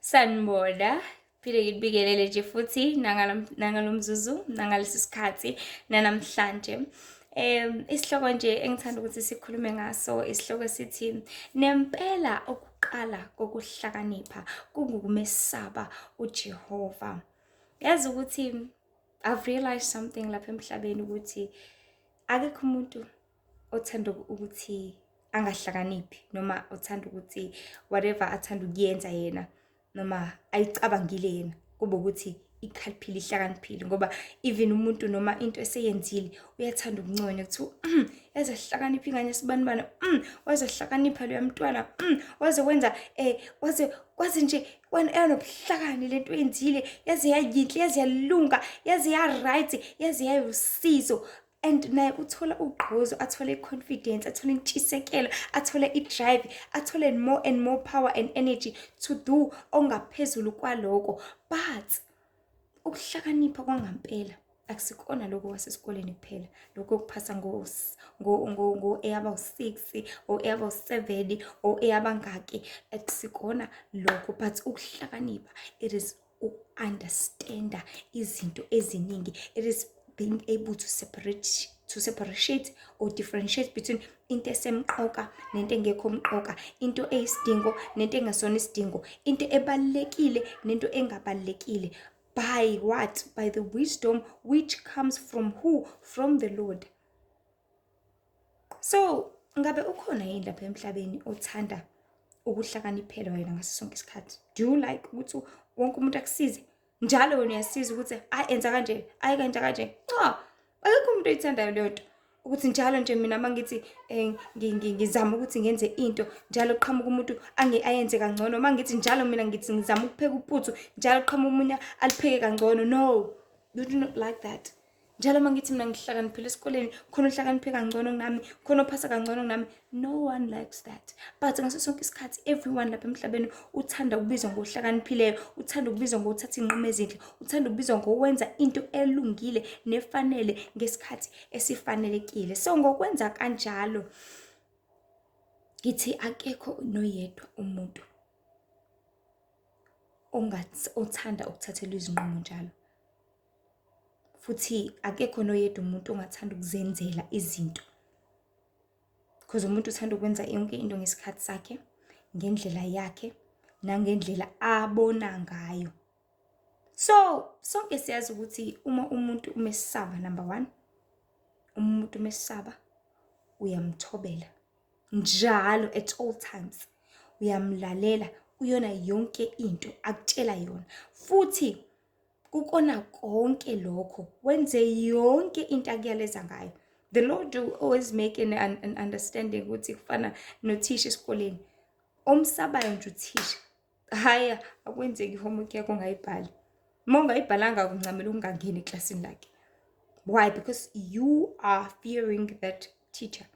Sanibona, phinde nginibikelele nje futhi nangalo mzuzu nangalesi sikhathi nanamhlanje um isihloko nje engithanda ukuthi sikhulume ngaso isihloko sithi nempela ukuqala kokuhlakanipha kungukumesaba ujehova yazi ukuthi i've realized something lapha emhlabeni ukuthi akekho umuntu othanda ukuthi angahlakaniphi noma othanda ukuthi whatever athanda ukuyenza yena noma ayicabangile yena kube ukuthi ikhaliphile ihlakaniphile ngoba even umuntu noma into eseyenzile uyathanda ukunconywa kuthiwa mm, eze hlakanipha ingane sibanibana mm, waze hlakanipha loya mntwana mm, waze wenza um waze kwaze nje yanobuhlakani le nto yenzile yaze yayinhle yaze yalunga yaze ya-right yaze yayosizo and naye uthola ugqozo athole i-confidence athole intshisekelo athole i-drive athole more and more power and energy to do ongaphezulu kwaloko but ukuhlakanipha kwangampela akusikona lokho kwasesikoleni kuphela lokho kuphasa ngo-eyaba u-six o-eyaba u-seven o-eyabangaki akusikona lokho but ukuhlakanipha it is uku-understanda izinto eziningi it is being able to separate to separate or differentiate between into esemqoka nento engekho mqoka into eyisidingo nento engesona isidingo into ebalulekile nento engabalulekile by what by the wisdom which comes from who from the lord so ngabe ukhona yini lapha emhlabeni othanda ukuhlakaniphela wena ngaso sonke isikhathi do you like ukuthi wonke umuntu akusize njalo wena uyasiza ukuthi ayi enza kanje ayi kanje kanje cha akekho umuntu oyithandayo leyo nto ukuthi njalo nje mina uma ngithi um ngizama ukuthi ngenze into njalo qhamuka umuntu ayenze kangcono uma ngithi njalo mina ngithi ngizama ukupheka uputhu njalo qhamuka umunye alipheke kangcono no you do not like that njalo uma ngithi mina ngihlakaniphile esikoleni khona ohlakaniphe kangcono kunami khona ophasa kangcono kunami no one likes that but ngaso sonke isikhathi everyone lapha emhlabeni uthanda ukubizwa ngohlakaniphileo uthanda ukubizwa ngokuthatha iy'nqumo ezinhle uthanda ukubizwa ngokwenza into elungile nefanele ngesikhathi esifanelekile so ngokwenza kanjalo ngithi akekho noyedwa umuntu othanda ukuthathelwa izinqumo njalo futhi akekho noyedwa umuntu ongathanda ukuzenzela izinto because umuntu uthanda ukwenza yonke into ngesikhathi sakhe ngendlela yakhe nangendlela abona ngayo so sonke siyazi ukuthi uma umuntu umesaba number one umuntu umesaba uyamthobela njalo at all times uyamlalela uyona yonke into akutshela yona futhi Kukona konke lokho wenze yonke into akuyaleza ngayo. The Lord will always make an, an, an understanding ukuthi kufana nothisha esikoleni omsabayo nje uthisha haya akwenzeki homework yakho ungayibhali uma ungayibhalanga kuncamela ukungangeni eklasini lakhe why because you are fearing that teacher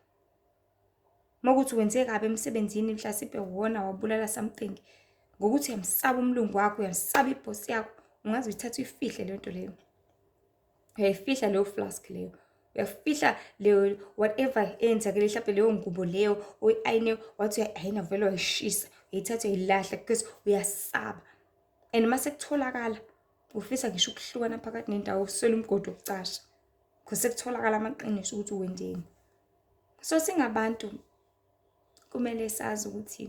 Makuthi wenze kabi emsebenzini mhlasimpe wona wabulala something ngokuthi uyamsaba umlungu wakho uyamsaba ibhosi yakho ungaze uyithathe uyifihle leyo nto leyo uyayifihla leyo flask leyo uyafihla leyo whatever eyenzakele mhlawumbe leyo ngubo leyo oyi-ayine wathi uyayi-ayina vele wayishisa uyayithatha uyayilahla because uyasaba and uma sekutholakala ufisa ngisho ukuhlukana phakathi nendawo uswele umgodi wokucasha because sekutholakala amaqiniso ukuthi wenzeni so singabantu kumele sazi ukuthi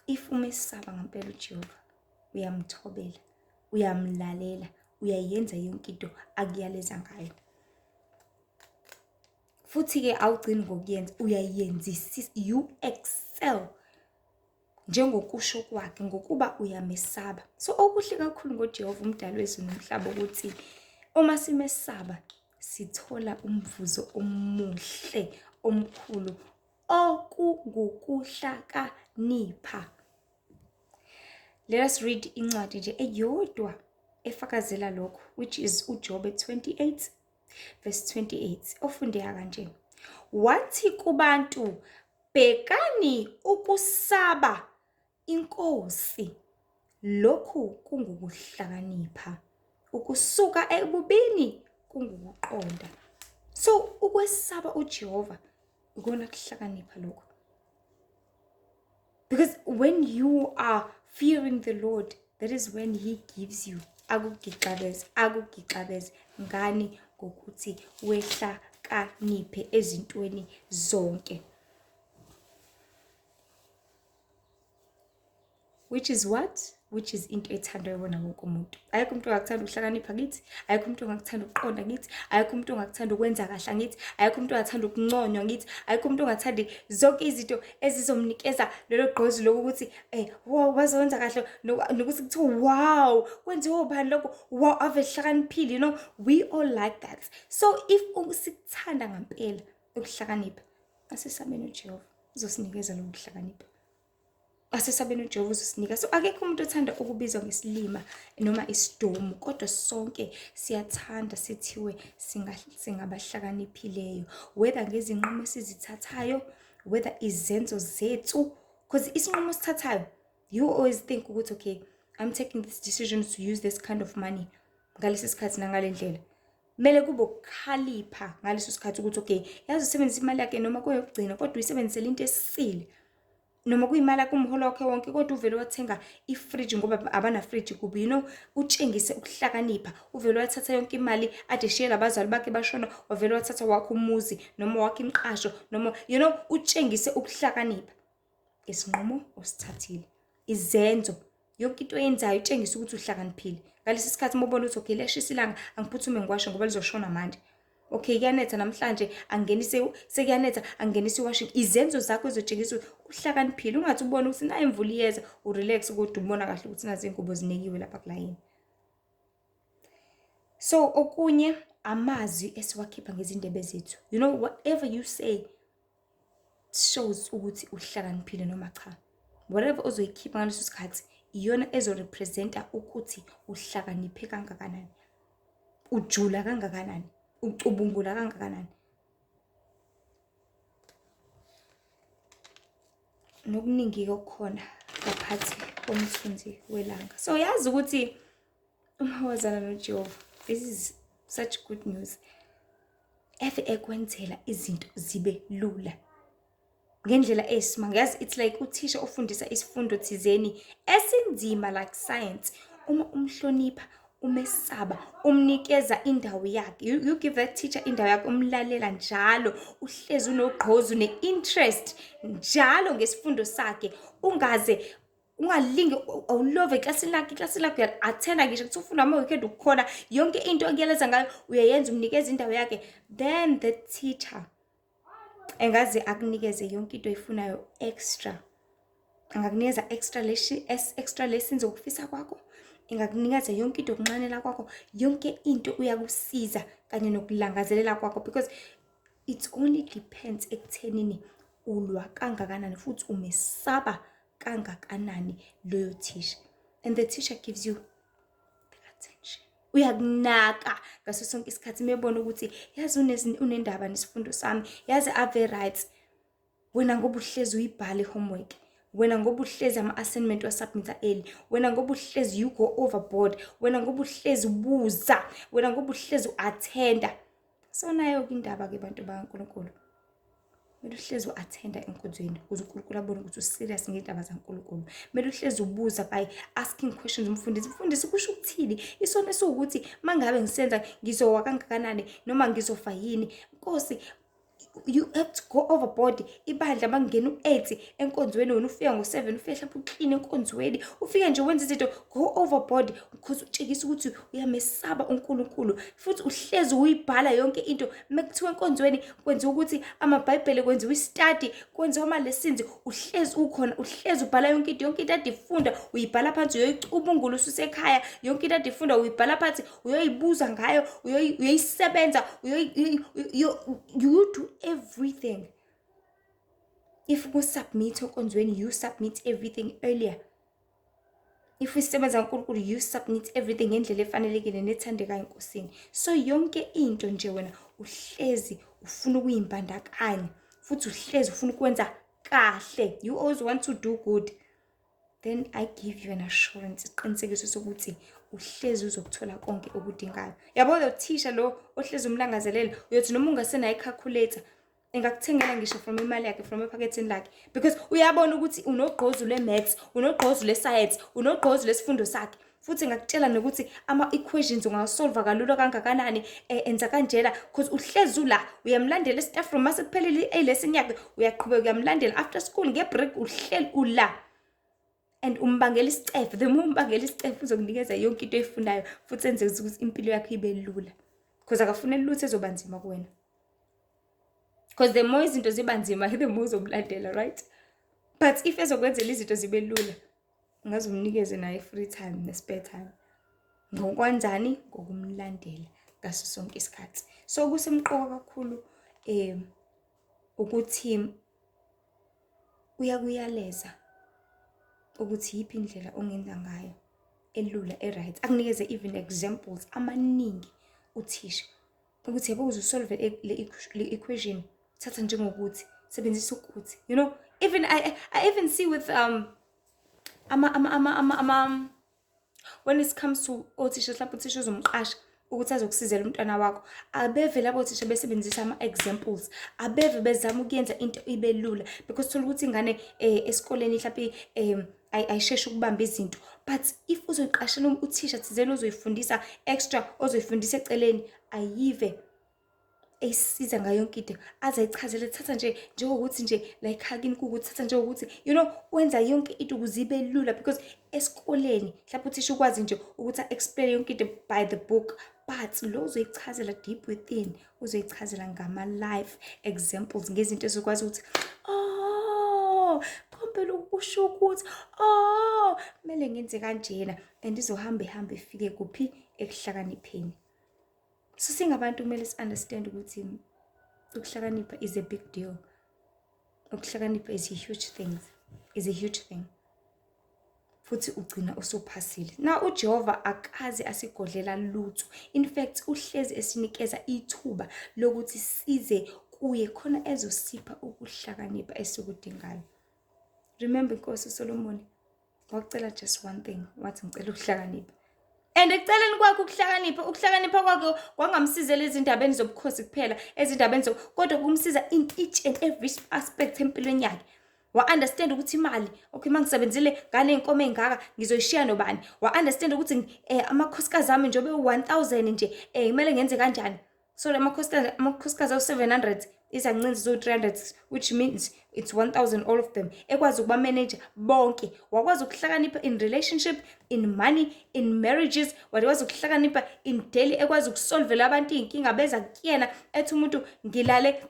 if uma esaba ngempela uJehova uyamthobela uyamlalela uyayenza yonke into akuyaleza ngayo futhi-ke awugcini ngokuyenza uyayenzisisa you excel njengokusho kwakhe ngokuba uyamesaba so okuhle kakhulu ngojehova umdali wezulu nomhlaba ukuthi uma simesaba sithola umvuzo omuhle omkhulu okungukuhlakanipha let us read incwadi nje eyodwa efakazela lokho which is ujobe 28 verse 28 ofundeka kanje wathi kubantu Bhekani ukusaba iNkosi, lokhu kungukuhlakanipha. Ukusuka ebubini kungukuqonda. So ukwesaba uJehova ikona kuhlakanipha lokho. Because when you are fearing the Lord, that is when he gives you akugixabeze akugixabeze ngani ngokuthi wehla kaniphe ezintweni zonke which is what which is into ethandwa yona wonke umuntu ayikho umuntu ongakuthanda ukuhlakanipha kithi ayikho umuntu ongakuthanda ukuqonda kithi ayikho umuntu ongakuthanda ukwenza kahle ngithi ayikho umuntu ongathanda ukunconywa ngithi ayikho umuntu ongathanda zonke izinto ezizomnikeza lelo gqozi lokuthi eh wow waze wenza kahle nokuthi kuthiwa wow kwenziwe ubani lokho wow ave hlakaniphile you know we all like that so if sikuthanda ngempela ukuhlakanipha asesabeni ujehova uzosinikeza loku kuhlakanipha asesabeni ujehova uzosinika so akekho umuntu othanda ukubizwa ngesilima noma isidomu kodwa sonke siyathanda sithiwe singabahlakaniphileyo whether ngezinqumo esizithathayo whether izenzo zethu because isinqumo osithathayo you always think ukuthi okay i'm taking this decision to use this kind of money ngalesi sikhathi nangale ndlela kumele kube ukukhalipha ngaleso sikhathi ukuthi okay yazi usebenzisa imali yakhe noma kuyokugcina kodwa uyisebenzisela into esisile noma kuyimali yakho umholo wakhe wonke kodwa uvele wathenga ifridge ngoba abanafridge kubi you know utshengise ukuhlakanipha uvele wathatha yonke imali ade shiye labazali bakhe bashona wavele wathatha wakho umuzi noma wakho imiqasho noma you know utshengise ukuhlakanipha isinqumo osithathile izenzo yonke into oyenzayo utshengisa ukuthi uhlakaniphile ngalesi sikhathi uma ubona ukuthi okay liyashisa ilanga angiphuthume ngikwashe ngoba lizoshona manje okay kuyanetha namhlanje angenise sekuyanetha angenise iwashing izenzo zakho ezotshengisa uhlakaniphile ungathi ubona ukuthi nayo imvula iyeza urelax kodwa ubona kahle ukuthi nazi ingubo zinekiwe lapha kulayini so okunye amazwi esiwakhipha ngezindebe zethu you know whatever you say shows ukuthi uhlakaniphile noma cha whatever ozoyikhipha ngaleso sikhathi iyona ezorepresenta ukuthi uhlakaniphe kangakanani ujula kangakanani ucubungula kangakanani nokuningi-ke okukhona ngaphathi komthunzi welanga so yazi ukuthi uma wazana nojehova this is such good news eve ekwenzela izinto zibe lula ngendlela eyisimanga yazi it's like uthisha ofundisa isifundo thizeni esinzima like science uma umhlonipha umesaba umnikeza indawo yakhe you, you give that teacher indawo yakhe umlalela njalo uhlezi unogqozu ne-interest njalo ngesifundo sakhe ungaze ungalingi awulove eklasini lakhe eklasini lakhe uyathenda ngisho kuthi ufunda ama-weekend ukukhona yonke into okuyeleza ngayo uyayenza umnikeza indawo yakhe then the teacher engaze akunikeze yonke into oyifunayo extra angakunikeza extra leshi extra lessons okufisa kwakho ingakunikeza yonke into yokunxanela kwakho yonke into uyakusiza kanye nokulangazelela kwakho because it only depends ekuthenini ulwa kangakanani futhi umesaba kangakanani loyo thisha and the teacher gives you uyakunaka ngaso sonke isikhathi mebona ukuthi yazi unendaba nesifundo sami yazi ave right wena ngoba uhlezi uyibhala i-homework wena ngoba uhlezi ama-assignment wasubmitha eli wena ngoba uhlezi you go overboard wena ngoba uhlezi ubuza wena ngoba uhlezi u-athenda so nayo-ke indaba-ke bantu bakankulunkulu kumele uhlezi u-athenda enkonzweni ukuze unkulunkulu abone ukuthi userious ngey'ndaba zankulunkulu kumele uhlezi ubuza by asking questions umfundisi mfundisi kusho ukuthini isona esiwukuthi uma ngabe ngisenza ngizowa kangakanani noma ngizofa yini nkosi you have to go overboard ibandla makungena u-eight enkonzweni wena ufika ngo-seven ufike hlapha uklini enkonzweni ufike nje wenza izinto go overboard because utshekisa ukuthi uyamesaba unkulunkulu futhi uhlezi uyibhala yonke into uma kuthiwa enkonzweni kwenziwa ukuthi amabhayibhele kwenziwa istadi kwenziwa amalesins uhlezi ukhona uhlezi ubhala yonke into yonke into adifunda uyibhala phansi uyoyicubungula ususekhaya yonke into adifunda uyibhala phansi uyoyibuza ngayo uyoyisebenza you do everything if kusubmit enkonzweni you submit everything earlier if usebenza uNkulunkulu you submit everything ngendlela efanelekile nethandekayo enkosini so yonke into nje wena uhlezi ufuna ukuyimbandakanya futhi uhlezi ufuna ukwenza kahle you always want to do good then i give you an assurance isiqinisekiso sokuthi uhlezi uzokuthola konke okudingayo yabo lo thisha lo ohlezi umlangazelela uyothi noma ungasenayo ikhakhuletha engakuthengela ngisho from imali yakhe from ephaketheni lakhe because uyabona ukuthi unogqozu lwe-maths unogqozu lwe-science unogqozu lesifundo sakhe futhi ngakutshela nokuthi ama-equations ungawasolva kalula kangakanani um enza kanjena because uhlezi ula uyamlandela e-staff room mase kuphelile i-alesson yakhe uyaqhubeka uyamlandela after school nge-break uhleli ula and umbangela isicefe the more umbangela isicefe uzokunikeza yonke into eyifunayo futhi enze ukuthi impilo yakho ibe lula because akafuneli lutho ezoba nzima kuwena because the more izinto ziba nzima the more uzokulandela right but if ezokwenzela izinto zibe lula ngaze umnikeze naye i-free time ne-spare time ngokwanjani ngokumlandela ngaso sonke isikhathi so kusemqoka kakhulu um ukuthi uyakuyaleza ukuthi yiphi indlela ongenza ngayo elula e-right akunikeze even examples amaningi uthisha ukuthi yebo ukuze usolve e, le equation thatha njengokuthi sebenzisa ukuthi you know even i, I even see with um ama ama ama ama, ama when it comes to othisha mhlawumbe uthisha uzomqasha ukuthi azokusizela umntwana wakho abevele abothisha besebenzisa ama-examples abeve bezama ukuyenza into ibe lula because thola ukuthi ingane um esikoleni mhlawumpe um ayisheshe ukubamba izinto but if uzoyiqashela uthisha thizeni ozoyifundisa extra ozoyifundisa eceleni ayive eyisiza ngayo yonke into aze ayichazele thatha nje njengokuthi nje like hakini kukuthi thatha njengokuthi you know wenza yonke into ukuze ibe lula because esikoleni mhlawumbe uthisha ukwazi nje ukuthi a-explain yonke into by the book but lo uzoyichazela deep within uzoyichazela ngama-life examples ngezinto ezokwazi ukuthi oh kompela ukusho ukuthi oh kumele ngenze kanjena and izohamba ihambe ifike kuphi ekuhlakanipheni so singabantu kumele si-understand ukuthi ukuhlakanipha is a big deal ukuhlakanipha is a huge thing is a huge thing futhi ugcina usuphasile na uJehova akaze asigodlela lutho in fact uhlezi esinikeza ithuba lokuthi size kuye khona ezosipha ukuhlakanipha esikudingayo remember inkosi uSolomoni wakucela just one thing wathi ngicela ukuhlakanipha and ekuceleni kwakhe ukuhlakanipha ukuhlakanipha kwakhe kwangamsizela ezindabeni zobukhosi kuphela ezindabeni zo kodwa kumsiza in each and every aspect empilweni yakhe wa-understand ukuthi imali okay uma ngisebenzile nganey'nkomo ey'ngaka ngizoyishiya nobani wa-understand ukuthi um amakhosikazi ami njengobe u-one thousand nje um kumele ngenze kanjani so la makhosikazi awu-700 izancinzi ziwu-300 which means it's 1000 all of them ekwazi ukubamanaja bonke wakwazi ukuhlakanipha in relationship in money in marriages wakwazi ukuhlakanipha in daily ekwazi ukusolvela abantu iy'nkinga beza kuyena ethi umuntu ngilale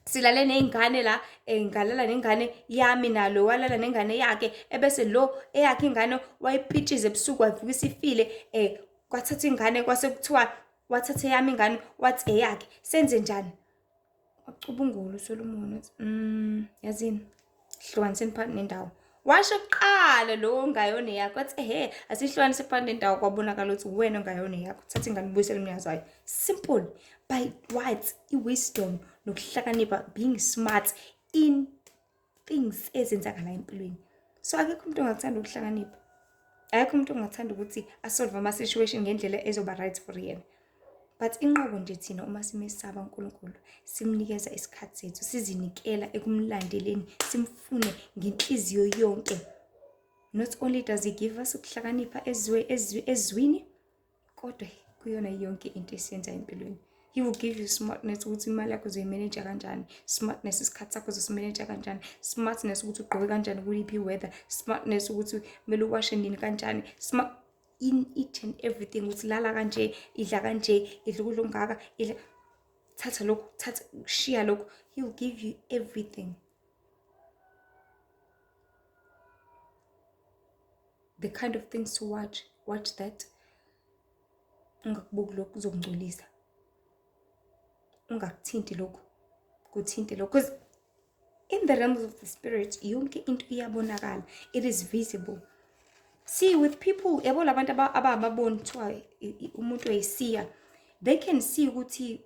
silale ney'ngane la um ngalala nengane yami nalo walala nengane yakhe ebese lo eyakhe ingane wayipitshiza ebusuku wavuka isifile um kwathatha ingane kwase kuthiwa wathatha eyami ingane wathi eyakhe senze njani wacubungula usolomoni wathi um yazini hlukaniseni phakathi nendawo washo kuqala lowo ongayona yakho athi ehe asihlukanise phakathi nendawo kwabonakala ukuthi uwena ongayona yakho thatha ingane ubuyisele umnikazi wayo simple by what i-wisdom nokuhlakanipha being smart in things ezenzakala empilweni so akekho umuntu ongakuthanda ukuhlakanipha akekho umuntu ongathanda ukuthi asolve ama-situation ngendlela ezoba right for yena but inqobo nje thina uma simesaba uNkulunkulu simnikeza isikhathi sethu sizinikela ekumlandeleni simfune ngenhliziyo yonke not only does he give us ukuhlakanipha ezwe ezwi ezwini kodwa kuyona yonke into esiyenza empilweni he will give you smartness ukuthi imali yakho uzoyimeneja kanjani smartness isikhathi sakho uzosimeneja kanjani smartness ukuthi ugqoke kanjani kuliphi weather smartness ukuthi kumele uwashe nini kanjani smart in each and everything ukuthi lala kanje idla kanje idla ukudla okungaka idla thatha lokhu thatha shiya lokhu he will give you everything the kind of things to watch watch that ungakubuki lokhu kuzokungcolisa ungakuthinti lokhu kuthinte lokhu in the realms of the spirit yonke into iyabonakala it is visible see with people yabo labantu abababoni kuthiwa umuntu oyisiya they can see ukuthi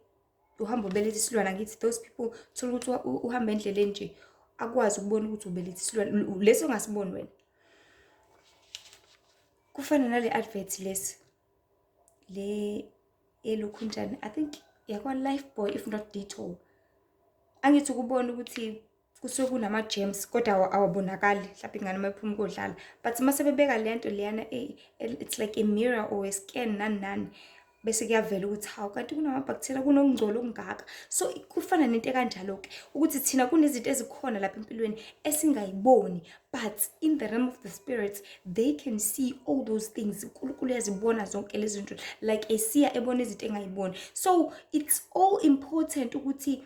uhamba ubelethe isilwane angithi those people thola ukuthi uhamba endleleni nje akwazi ukubona ukuthi ubelethe isilwane lesi ongasiboni wena kufana nale advert lesi le elokhunjani i think yakwa-life boy if not detour angithi ukubona ukuthi kusuke kunama-gems kodwa awabonakali mhlawumbe ingane uma iphuma kodlala but uma sebebeka le nto leyana eh, eh, it's like a mirror or a scan nani nani bese kuyavela ukuthi hawu kanti kunamabhaktheriya kunokungcola okungaka so kufana nento ekanjalo-ke ukuthi thina kunezinto ezikhona lapha empilweni esingayiboni but in the realm of the spirits they can see all those things unkulunkulu yazibona zonke lezi zinto like esiya ebona izinto engayiboni so it's all important ukuthi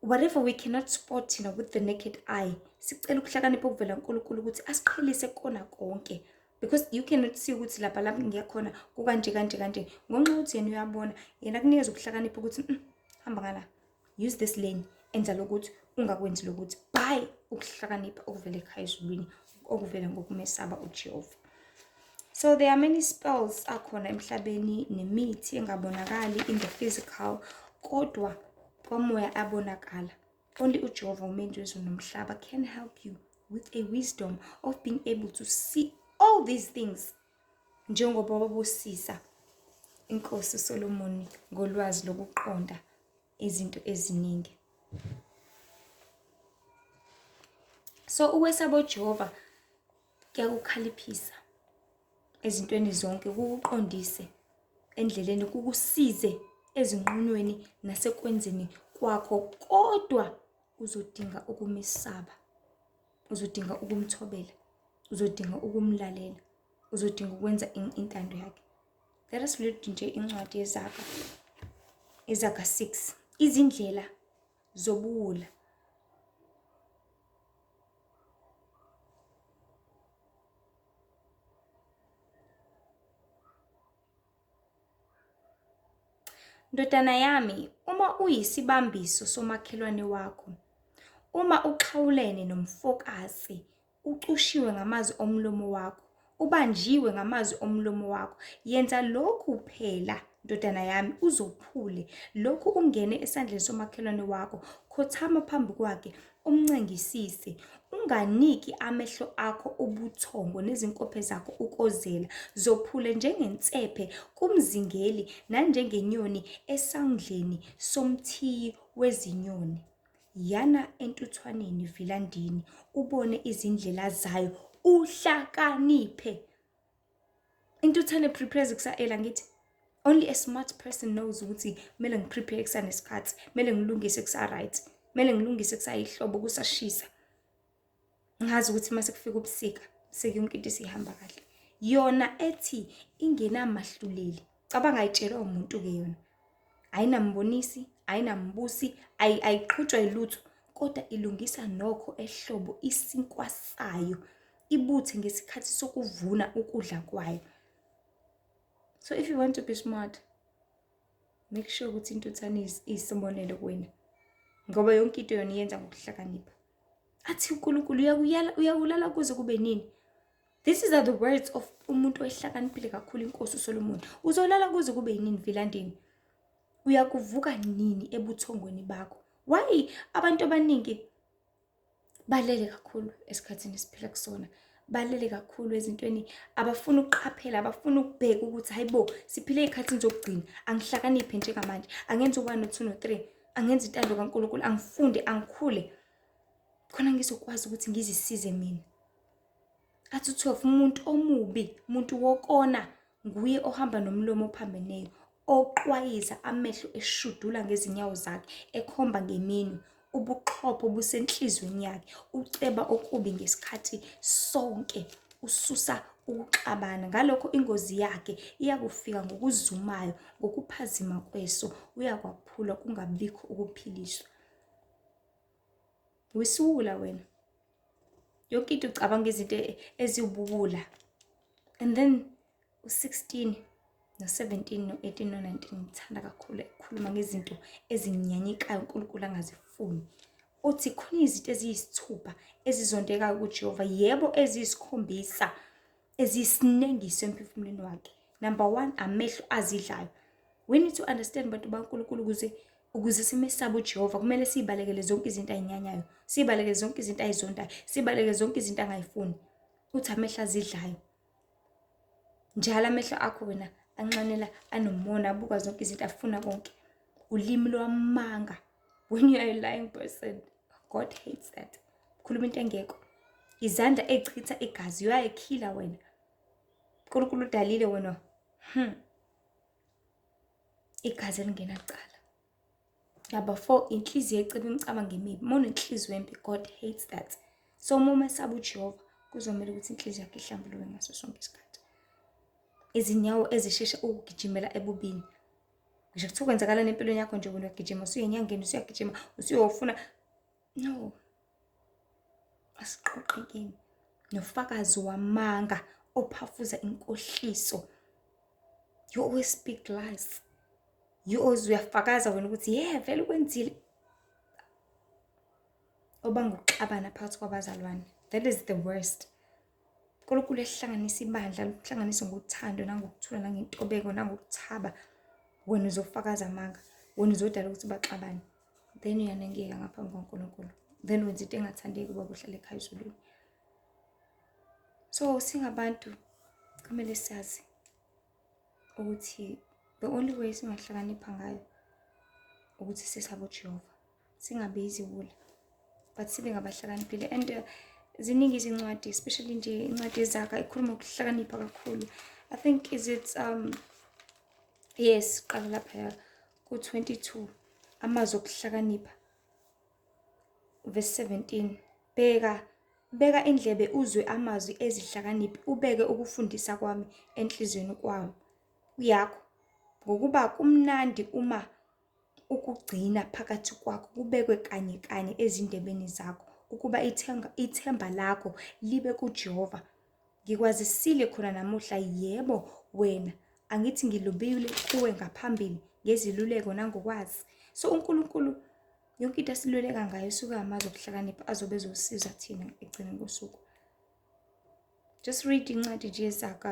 whatever we cannot spot you know, with the naked eye sicela ukuhlakanipha okuvela unkulunkulu ukuthi asiqhelise kona konke because you cannot see ukuthi lapha lapho ngiyakhona kukanje kanje kanje ngonxa ukuthi yena uyabona yena kunikeza ukuhlakanipha ukuthi mm, hamba ngala use this lane enza lokuthi ungakwenzi lokuthi by ukuhlakanipha okuvela ekhaya ezulwini okuvela ngokumesaba ujehova so there are many spells akhona emhlabeni nemithi engabonakali in the physical kodwa kwamoya abonakala only ujehova umenzi wezulu nomhlaba can help you with a wisdom of being able to see all these things njengoba babusisa inkosi uSolomoni ngolwazi lokuqonda izinto eziningi so ukwesaba uJehova kuyakukhaliphisa ezintweni zonke kukuqondise endleleni kukusize ezinqunweni nasekwenzeni kwakho kodwa uzodinga ukumesaba uzodinga ukumthobela uzodinga ukumlalela uzodinga ukwenza intando yakhe let us read nje incwadi yezaga izaga 6 izindlela zobuwula Ndodana yami, uma uyisibambiso somakhelwane wakho, uma uxhawulene nomfokazi Ucushiwe ngamazwi omlomo wakho, ubanjiwe ngamazwi omlomo wakho. Yenza lokhu phela, ndodana yami, uzophule lokhu ungene esandleni somakhelwane wakho. Khothama phambi kwakhe, umncengisise. Unganiki amehlo akho ubuthongo nezinkophe zakho ukozela. Zophule njengensephe kumzingeli nanjengenyoni esandleni somthiyi wezinyoni. Yana entuthwaneni Vilandini ubone izindlela zayo uhlakaniphe. Intuthane prepares kusaela ngithi only a smart person knows ukuthi kumele ngiprepare kusanesikhathi, kumele ngilungise kusa-right, kumele ngilungise kusayihlobo kusashisa. ngazi ukuthi uma sekufika ubusika seke yonke into isihamba kahle yona ethi ingenamahluleli cabanga ayitshelwa umuntu-ke yona ayinambonisi ayinambusi ayiqhutshwa yilutho kodwa ilungisa nokho ehlobo isinkwa sayo ibuthe ngesikhathi sokuvuna ukudla kwayo so if you want to be smart make sure ukuthi intuthane iyisibonelo kuwena ngoba yonke into yona iyenza ngokuhlakanipha athi unkulunkulu uyawulala kuze kube nini this is are the words of umuntu oyihlakaniphile kakhulu inkosi usolomoni uzolala kuze kube yinini vilandini uyakuvuka nini ebuthongweni bakho why abantu abaningi balele kakhulu esikhathini esiphila kusona balele kakhulu ezintweni abafuna ukuqaphela abafuna ukubheka ukuthi hayibo siphile ey'khathini zokugcina angihlakaniphe njengamanje angenza uba no-two no-three angenza intando kankulunkulu angifunde angikhule khona ngizokwazi ukuthi ngizisize mina athi u-twelve umuntu omubi umuntu wokona Nguye ohamba nomlomo ophambeneyo, oqwayiza amehlo eshudula ngezinyawo zakhe, ekhomba ngeminwe. Ubuqhopho busenhlizweni yakhe, uceba okubi ngesikhathi sonke, ususa ukuxabana. Ngalokho ingozi yakhe iyakufika ngokuzumayo, ngokuphazima kweso uyakwaphula kungabikho ukuphiliswa. Wisiwula wena. yonke into ucabanga izinto e-, eziwububula and then u-16 no-17 no-18 no-19 ngithanda kakhulu ekhuluma ngezinto ezinyanyekayo unkulunkulu angazifuni uthi khona izinto eziyisithupha ezizondekayo kujehova yebo eziyisikhombisa eziyisinengiso emphefumulweni wakhe number one amehlo azidlayo we need to understand bantu bankulunkulu ukuze ukuze simesabe uJehova kumele siyibalekele zonke izinto ayinyanyayo siyibalekele zonke izinto ayizondayo siyibalekele zonke izinto angayifuni uthi amehlo azidlayo njalo amehlo akho wena anxanela anomona abuka zonke izinto afuna konke ulimi lwamanga when you are a lying person god hates that khuluma into engekho izandla ezichitha igazi uyayikhila wena unkulunkulu udalile wena hmm. igazi elingenacala number four inhliziyo eceba imicabango emibi uma unenhliziyo embi god hates that so uma umesaba ujehova kuzomele ukuthi inhliziyo yakhe ihlambuluke ngaso sonke isikhathi izinyawo ezishesha ukugijimela ebubini ngisho kuthiwa kwenzakalani empilweni yakho nje wena uyagijima usuye enyangeni usuyagijima usuyofuna No. Asiqoqekeni nofakazi wamanga ophafuza inkohliso. You always speak lies. You always uyafakaza wena ukuthi yeah vele ukwenzile. Obanga ukuxabana phakathi kwabazalwane. That is the worst. uNkulunkulu ehlanganisa ibandla luhlanganise ngothando nangokuthula nangentobeko nangokuthaba wena uzofakaza amanga wena uzodala ukuthi baxabane then uyanengeka ngaphambi kwaNkulunkulu then wenza into engathandeki uba kuhlale ekhaya ezulwini so singabantu kumele sazi ukuthi the only way singahlakanipha ngayo ukuthi sisabe uJehova singabe iziwula but sibe ngabahlakaniphile and uh, ziningi izincwadi especially nje incwadi ezakha ikhuluma ukuhlakanipha kakhulu i think is it um yes qala lapha Ku-22 amazwi okuhlakanipha, verse 17 bheka beka indlebe uzwe amazwi ezihlakaniphi ubeke ukufundisa kwami enhliziyweni kwawo yakho ngokuba kumnandi uma ukugcina phakathi kwakho kubekwe kanye kanye ezindebeni zakho ukuba ithemba, ithemba lakho libe kuJehova Ngikwazisile khona namuhla, yebo, wena, angithi ngilubile kuwe ngaphambili ngeziluleko nangokwazi. So uNkulunkulu yonke into asiluleka ngayo suke amazi okuhlakanipha azobe ezosiza thina ekugcineni kosuku. Just read incwadi nje zaka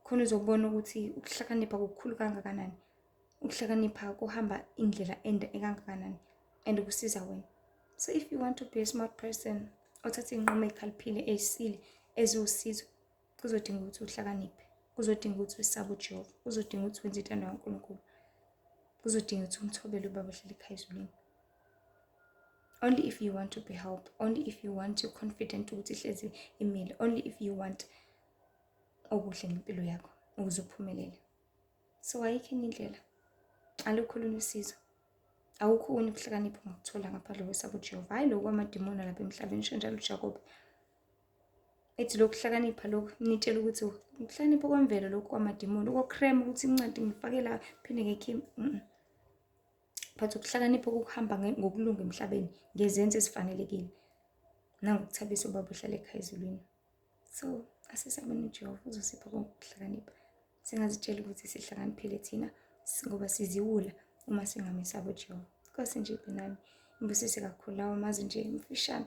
khona uzobona ukuthi ukuhlakanipha kukhulu kangakanani. ukuhlakanipha kuhamba indlela ende ekangakanani and kusiza wena so if you want to be a smart person othatha iy'nqumo ey'khaliphile ey'sile eziwusizo kuzodinga ukuthi uhlakaniphe kuzodinga ukuthi usabe ujehova kuzodinga ukuthi wenze intando kankulunkulu kuzodinga ukuthi umthobele ubaba ohlala ekhaya ezulwini only if you want to be helped only if you want your confident ukuthi ihlezi imile only if you want okuhle ngempilo yakho ukuze uphumelele so ayikho enye indlela alukho olunye usizo awukho okunye ukuhlakanipha ungakuthola ngapha lo wesaba ujehova hhayi loku kwamadimoni alapha emhlabeni sho njalo ujakobe ethi lokhu hlakanipha lokhu nitshela ukuthi ukuhlakanipha kwemvelo lokhu kwamadimoni ukokrema ukuthi incwadi ngifake la phinde ngekhimi but ukuhlakanipha kokuhamba ngokulunga emhlabeni ngezenzo ezifanelekile nangokuthabisa ubaba uhlala ekhaya ezulwini so asisabeni ujehova uzosipha konke ukuhlakanipha singazitshela ukuthi sihlakaniphile thina ngoba siziwula uma singamesaba ujehova kose nje benami ngibusise kakhulu lawo mazi nje mfishane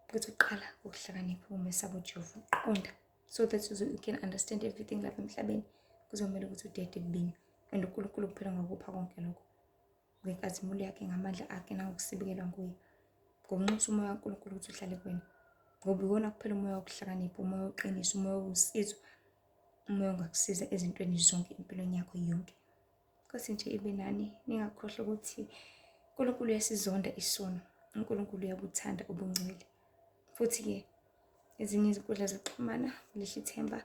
ukuthi uqala ukuhlakanipha uma esaba ujehova uqonda so that you can understand everything lapha emhlabeni kuzomele ukuthi udede kubini and unkulunkulu kuphela ngokupha konke lokho ngenkazimulo yakhe ngamandla akhe nangokusibikelwa nguye ngokunxusa umoya kaNkulunkulu ukuthi uhlale kuwena ngoba iwona kuphela umoya wokuhlakanipha umoya woqiniso umoya wosizo umoya ongakusiza ezintweni zonke empilweni yakho yonke nkosi nje ibe nani ningakhohlwa ukuthi uNkulunkulu uyasizonda isono uNkulunkulu uyabuthanda ubungcwele futhi-ke ezinye izinkundla zokuxhumana lihla ithemba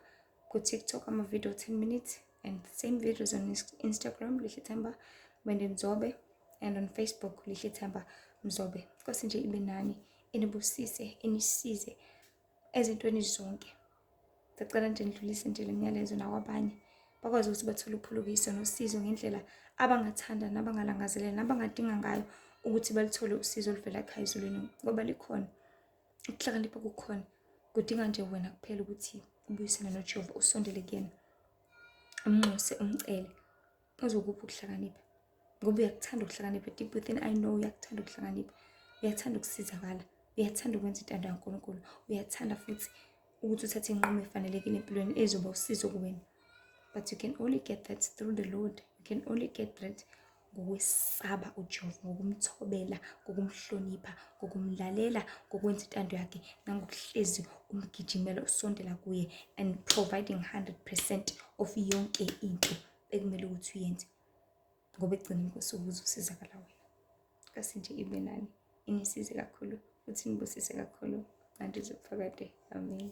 ku-tiktok amavidiyo 10 minutes and same videos on Instagram Lihle Themba Mende Mzobe and on Facebook Lihle Themba Mzobe Nkosi nje ibe nani inibusise inisize ezintweni zonke sicela nje nidlulise nje lemyalezo nakwabanye bakwazi ukuthi bathole uphulukiso nosizo ngendlela abangathanda nabangalangazelela nabangadinga ngayo ukuthi balithole usizo oluvela ekhaya ezulwini ngoba likhona ukuhlakanipha kukhona kudinga nje wena kuphela ukuthi ubuyisane nojehova usondele kuyena umnxuse umcele uzokupha ukuhlakanipha ngoba uyakuthanda ukuhlakanipha deep within i know uyakuthanda ukuhlakanipha uyathanda ukusizakala uyathanda ukwenza intando kankulunkulu uyathanda futhi ukuthi uthathe inqumo efanelekile empilweni ezoba usizo kuwena but you can only get that through the lord you can only get that ngokwesaba uJehova, ngokumthobela, ngokumhlonipha, ngokumlalela, ngokwenza intando yakhe nangokuhlezi umgijimela usondela kuye and providing 100% of yonke into ekumele ukuthi uyenze ngoba ekugcineni kosuku uzosizakala wena. Kasi nje ibe nani inisize kakhulu futhi nibusise kakhulu manje zokufakade. Amen.